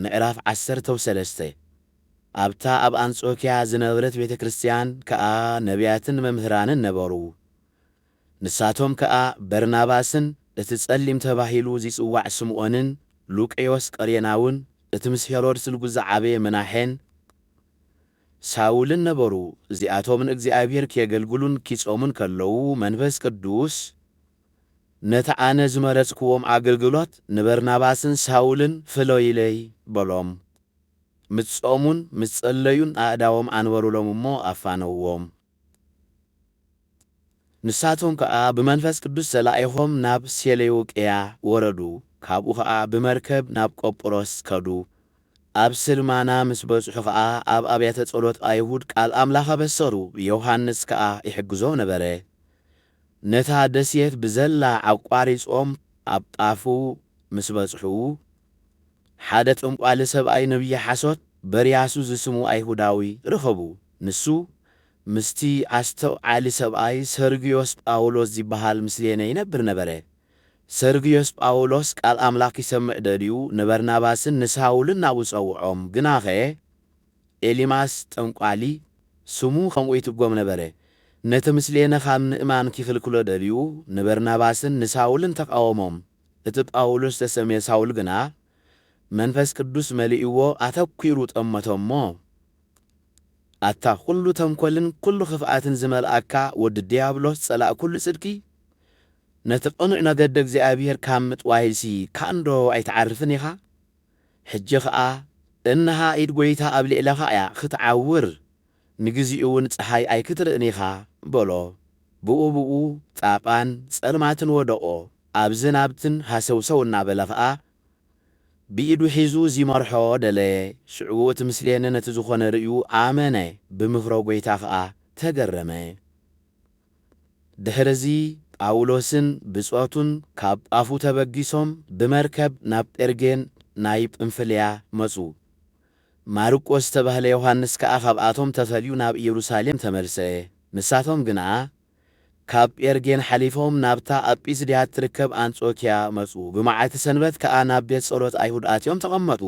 ምዕራፍ ዓሰርተው ሰለስተ ኣብታ ኣብ ኣንጾክያ ዝነበረት ቤተ ክርስትያን ከኣ ነብያትን መምህራንን ነበሩ። ንሳቶም ከኣ በርናባስን እቲ ጸሊም ተባሂሉ ዚጽዋዕ ስምኦንን ሉቅዮስ ቀሬናውን እቲ ምስ ሄሮድስ ልጉ ዝዓበየ ምናሔን ሳውልን ነበሩ። እዚኣቶም ንእግዚኣብሔር ኬገልግሉን ኪጾሙን ከለዉ መንፈስ ቅዱስ ነቲ ኣነ ዝመረጽክዎም ኣገልግሎት ንበርናባስን ሳውልን ፍለዩለይ በሎም። ምስ ጾሙን ምስ ጸለዩን ኣእዳዎም ኣንበሩሎም እሞ ኣፋነውዎም። ንሳቶም ከኣ ብመንፈስ ቅዱስ ተላኢኾም ናብ ሴሌውቅያ ወረዱ፣ ካብኡ ኸኣ ብመርከብ ናብ ቆጵሮስ ከዱ። ኣብ ስልማና ምስ በጽሑ ኸኣ ኣብ ኣብያተ ጸሎት ኣይሁድ ቃል ኣምላኽ ኣበሰሩ፣ ዮሃንስ ከኣ ይሕግዞም ነበረ። ነታ ደሴት ብዘላ ኣቋሪጾም ኣብ ጣፉ ምስ በጽሑ፣ ሓደ ጠንቋሊ ሰብኣይ ነብዪ ሓሶት በርያሱ ዝስሙ ኣይሁዳዊ ረኸቡ። ንሱ ምስቲ ኣስተውዓሊ ሰብኣይ ሰርግዮስ ጳውሎስ ዚብሃል ምስሌነ ይነብር ነበረ። ሰርግዮስ ጳውሎስ ቃል ኣምላኽ ኪሰምዕ ደልዩ ንበርናባስን ንሳውልን ናብኡ ጸውዖም፣ ግናኸ፣ ኤሊማስ ጠንቋሊ ስሙ ከምኡ ይትርጎም ነበረ፣ ነቲ ምስሌነ ኻብ ምእማን ኪኽልክሎ ደልዩ ንበርናባስን ንሳውልን ተቓወሞም፣ እቲ ጳውሎስ ዝተሰምየ ሳውል ግና መንፈስ ቅዱስ መሊእዎ ኣተኲሩ ጠመቶ እሞ፣ ኣታ ዅሉ ተንኰልን ኵሉ ኽፍኣትን ዝመልኣካ ወዲ ድያብሎስ ጸላእ ኵሉ ጽድቂ፣ ነቲ ቕኑዕ መገዲ እግዚኣብሄር ካብ ምጥዋይሲ ካእንዶ ኣይትዓርፍን ኢኻ? ሕጂ ኸኣ እንሃ ኢድ ጐይታ ኣብ ልዕለኻ እያ ኽትዓውር፣ ንግዜኡውን ጸሓይ ኣይክትርእን ኢኻ፣ በሎ። ብኡ ብኡ ጣቓን ጸልማትን ወደቖ፣ ኣብዝን ናብትን ሃሰውሰው እናበለ ኸኣ ብኢዱ ሒዙ ዚመርሖ ደለየ። ሽዕኡ እቲ ምስሌነ ነቲ ዝዀነ ርእዩ ኣመነ፣ ብምክሮ ጐይታ ኸኣ ተገረመ። ድሕርዚ ጳውሎስን ብጾቱን ካብ ጳፉ ተበጊሶም ብመርከብ ናብ ጴርጌን ናይ ጵንፍልያ መጹ። ማርቆስ ዝተባህለ ዮሓንስ ከኣ ካብኣቶም ተፈልዩ ናብ ኢየሩሳሌም ተመልሰ። ንሳቶም ግና ካብ ጴርጌን ሓሊፎም ናብታ ኣብ ጲስድያ እትርከብ ኣንጾክያ መጹ፣ ብመዓልቲ ሰንበት ከኣ ናብ ቤት ጸሎት ኣይሁድ ኣትዮም ተቐመጡ።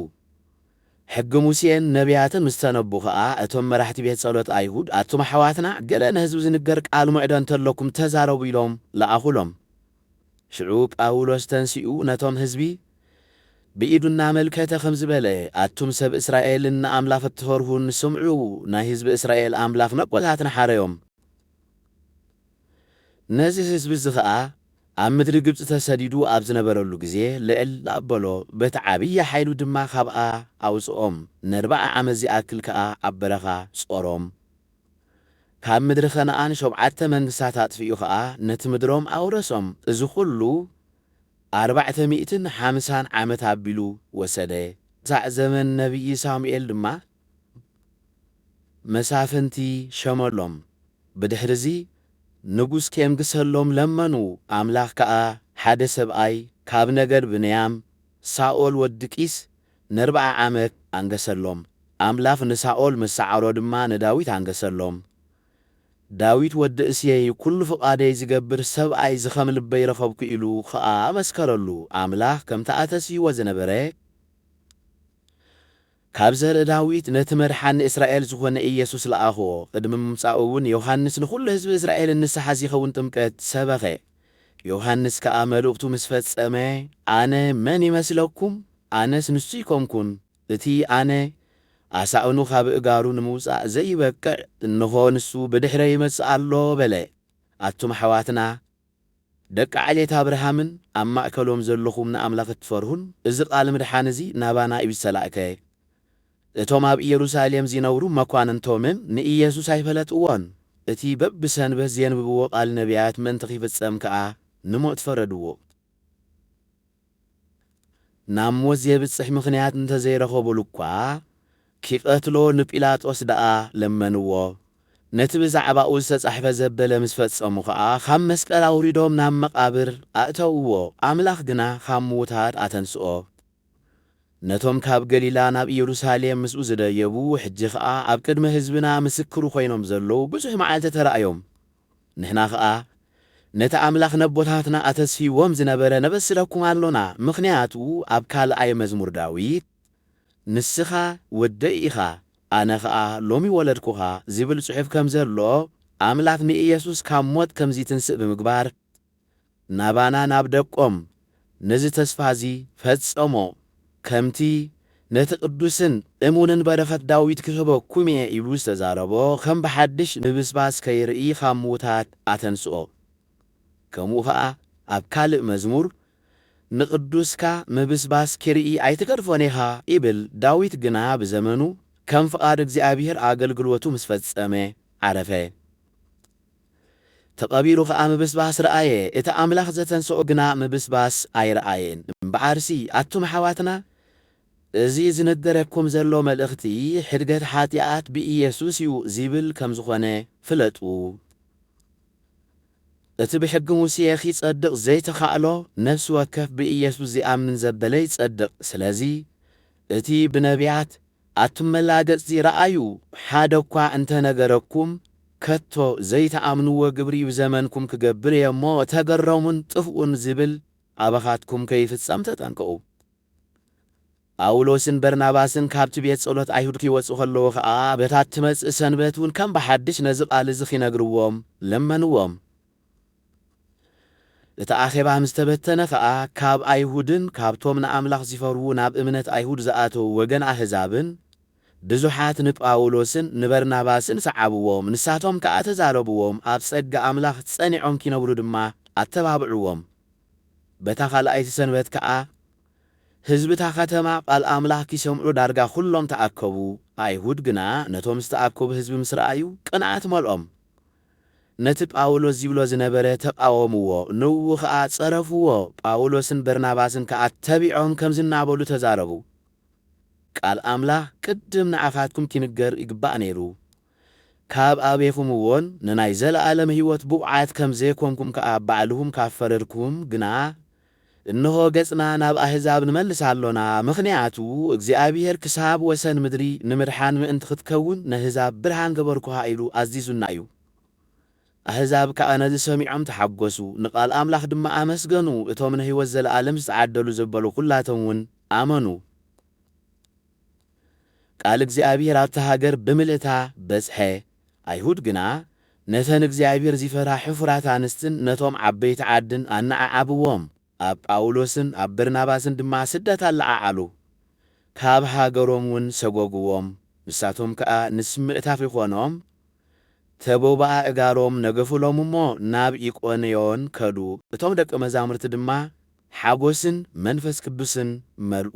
ሕጊ ሙሴን ነብያትን ምስ ተነቡ ኸኣ፣ እቶም መራሕቲ ቤት ጸሎት ኣይሁድ፣ ኣቱም ኣሕዋትና፣ ገለ ንህዝቢ ዚንገር ቃል ምዕዶ እንተ ኣሎኩም፣ ተዛረቡ ኢሎም ለኣኹሎም። ሽዑ ጳውሎስ ተንሲኡ፣ ነቶም ህዝቢ ብኢዱ እናመልከተ ኸምዚ በለ፣ ኣቱም ሰብ እስራኤልን ንኣምላኽ እትፈርሁን፣ ስምዑ፣ ናይ ህዝቢ እስራኤል ኣምላኽ ነቦታትና ሓረዮም። ነዚ ህዝቢ እዚ ኸኣ ኣብ ምድሪ ግብጺ ተሰዲዱ ኣብ ዝነበረሉ ግዜ ልዕል ኣበሎ፣ በቲ ዓብዪ ሓይሉ ድማ ኻብኣ ኣውጽኦም፣ ነርብዓ ዓመት ዚኣክል ከኣ ኣብ በረኻ ጾሮም። ካብ ምድሪ ከነኣን ሾብዓተ መንግስታት ኣጥፊኡ ኸኣ ነቲ ምድሮም ኣውረሶም፣ እዚ ዅሉ ኣርባዕተ ሚእትን ሓምሳን ዓመት ኣቢሉ ወሰደ። ክሳዕ ዘመን ነብዪ ሳሙኤል ድማ መሳፍንቲ ሸመሎም። ብድሕርዚ ንጉስ ኬንግሰሎም ለመኑ፣ ኣምላኽ ከኣ ሓደ ሰብኣይ ካብ ነገድ ብንያም፣ ሳኦል ወዲ ቂስ፣ ነርብዓ ዓመት ኣንገሰሎም። ኣምላኽ ንሳኦል ምስ ሰዓሮ ድማ ንዳዊት ኣንገሰሎም። ዳዊት ወዲ እሴይ ኵሉ ፍቓደይ ዚገብር ሰብኣይ እዚ ኸም ልበይ ረኸብኩ ኢሉ ኸኣ መስከረሉ፣ ኣምላኽ ከምቲ ኣተስይዎ ዝነበረ፣ ካብ ዘርኢ ዳዊት ነቲ መድሓኒ እስራኤል ዝኾነ ኢየሱስ ለኣኽዎ። ቕድሚ ምምጻኡ እውን ዮሃንስ ንኹሉ ህዝቢ እስራኤልን ንስሓ ዚኸውን ጥምቀት ሰበኸ። ዮሃንስ ከኣ መልእኽቱ ምስ ፈጸመ ኣነ መን ይመስለኩም? ኣነስ ንሱ ኣይኮንኩን። እቲ ኣነ ኣሳእኑ ኻብ እጋሩ ንምውጻእ ዘይበቅዕ እንሆ ንሱ ብድሕረይ ይመጽእ ኣሎ በለ። ኣቱም ኣሕዋትና! ደቂ ዓሌት ኣብርሃምን ኣብ ማእከሎም ዘሎኹም ንኣምላኽ እትፈርሁን፣ እዚ ቓል ምድሓን እዚ ናባና እዩ ዝተላእከ። እቶም ኣብ ኢየሩሳሌም ዚነብሩ መኳንንቶምን ንኢየሱስ ኣይፈለጥዎን፣ እቲ በብሰንበት ዜንብብዎ ቓል ነብያት ምእንቲ ኺፍጸም ከኣ ንሞት ፈረድዎ። ናብ ሞት ዜብጽሕ ምኽንያት እንተ ዘይረኸቡሉ እኳ፣ ኪቐትሎ ንጲላጦስ ደኣ ለመንዎ። ነቲ ብዛዕባኡ ዝተጻሕፈ ዘበለ ምስ ፈጸሙ ኸኣ፣ ኻብ መስቀል ኣውሪዶም ናብ መቓብር ኣእተውዎ። ኣምላኽ ግና ኻብ ምዉታት ኣተንስኦ። ነቶም ካብ ገሊላ ናብ ኢየሩሳሌም ምስኡ ዝደየቡ፣ ሕጂ ኸኣ ኣብ ቅድሚ ህዝብና ምስክሩ ዀይኖም ዘለዉ ብዙሕ መዓልቲ ተራእዮም። ንሕና ኸኣ ነቲ ኣምላኽ ነቦታትና ኣተስፊዎም ዝነበረ ነበስረኩም ኣሎና፣ ምኽንያቱ ኣብ ካልኣይ መዝሙር ዳዊት ንስኻ ወደይ ኢኻ፣ ኣነ ኸኣ ሎሚ ወለድኩኻ ዚብል ጽሑፍ ከም ዘሎ፣ ኣምላኽ ንኢየሱስ ካብ ሞት ከም ዚትንስእ ብምግባር ናባና ናብ ደቆም ነዚ ተስፋ እዚ ፈጸሞ፣ ከምቲ ነቲ ቅዱስን እሙንን በረኸት ዳዊት ክህበኩም እየ ኢሉ ዝተዛረቦ ከም ብሓድሽ ምብስባስ ከይርኢ ኻብ ምዉታት ኣተንስኦ። ከምኡ ኸኣ ኣብ ካልእ መዝሙር ንቅዱስካ ምብስባስ ኪርኢ ኣይትገድፎን ኢኻ ይብል፣ ዳዊት ግና ብዘመኑ ከም ፍቓድ እግዚኣብሄር ኣገልግሎቱ ምስ ፈጸመ ዓረፈ። ተቐቢሩ ኸኣ ምብስባስ ረኣየ፣ እቲ ኣምላኽ ዘተንስኦ ግና ምብስባስ ኣይረኣየን። እምበኣርሲ ኣቱም ኣሕዋትና፣ እዚ ዝንገረኩም ዘሎ መልእኽቲ ሕድገት ሓጢኣት ብኢየሱስ እዩ ዚብል ከም ዝኾነ ፍለጡ። እቲ ብሕጊ ሙሴ ኺጸድቕ ዘይተኻእሎ፣ ነፍሲ ወከፍ ብኢየሱስ ዚኣምን ዘበለ ይጸድቕ። ስለዚ እቲ ብነብያት፣ ኣቱም መላገጽቲ ረኣዩ ሓደኳ እንተ ነገረኩም ከቶ ዘይትኣምንዎ ግብሪ እብ ዘመንኩም ክገብር እየ እሞ ተገረሙን ጥፍኡን ዝብል ኣባኻትኩም ከይፍጸም ተጠንቀቑ። ጳውሎስን በርናባስን ካብቲ ቤት ጸሎት ኣይሁድ ኪወጹ ከለዉ ኸኣ በታ እትመጽእ ሰንበት እውን ከም ብሓድሽ ነዚ ቓል እዚ ኺነግርዎም ለመንዎም። እቲ ኣኼባ ምስ ተበተነ ኸኣ፣ ካብ ኣይሁድን ካብቶም ንኣምላኽ ዚፈርሁ ናብ እምነት ኣይሁድ ዝኣተዉ ወገን ኣህዛብን፣ ብዙሓት ንጳውሎስን ንበርናባስን ሰዓብዎም፣ ንሳቶም ከኣ ተዛረብዎም፣ ኣብ ጸጋ ኣምላኽ ጸኒዖም ኪነብሩ ድማ ኣተባብዕዎም። በታ ኻልኣይቲ ሰንበት ከኣ፣ ህዝቢ እታ ኸተማ ቓል ኣምላኽ ኪሰምዑ ዳርጋ ዅሎም ተኣከቡ። ኣይሁድ ግና ነቶም ዝተኣከቡ ህዝቢ ምስ ረኣዩ፣ ቅንኣት መልኦም። ነቲ ጳውሎስ ዚብሎ ዝነበረ ተቓወምዎ፣ ንእኡ ኸኣ ጸረፍዎ፣ ጳውሎስን በርናባስን ከኣ ተቢዖም ከምዚ እናበሉ ተዛረቡ፣ ቃል ኣምላኽ ቅድም ንኣኻትኩም ኪንገር ይግባእ ነይሩ፣ ካብ ኣቤኹምዎን ንናይ ዘለኣለም ህይወት ብቑዓት ከም ዘይኰንኩም ከኣ ባዕልኹም ካብ ፈረድኩም ግና፣ እንሆ ገጽና ናብ ኣህዛብ ንመልስ ኣሎና፣ ምኽንያቱ እግዚኣብሄር ክሳብ ወሰን ምድሪ ንምድሓን ምእንቲ ኽትከውን ነህዛብ ብርሃን ገበርኩኻ ኢሉ ኣዚዙና እዩ። ኣህዛብ ከኣ ነዚ ሰሚዖም ተሓጐሱ፣ ንቓል ኣምላኽ ድማ ኣመስገኑ፣ እቶም ንህይወት ዘለኣለም ዝተዓደሉ ዘበሉ ዅላቶም እውን ኣመኑ። ቃል እግዚኣብሄር ኣብታ ሃገር ብምልእታ በጽሐ፣ ኣይሁድ ግና ነተን እግዚኣብሄር ዚፈርሃ ሕፉራት ኣንስትን ነቶም ዓበይቲ ዓድን ኣነዓዓብዎም፣ ኣብ ጳውሎስን ኣብ በርናባስን ድማ ስደት ኣለዓዓሉ፣ ካብ ሃገሮምውን ሰጐጕዎም፣ ንሳቶም ከኣ ንስ ምእታፍ ይዀኖም ተቦብኣ እጋሮም ነገፉሎም እሞ ናብ ኢቆንዮን ከዱ፣ እቶም ደቀ መዛሙርቲ ድማ ሓጐስን መንፈስ ቅዱስን መልኡ።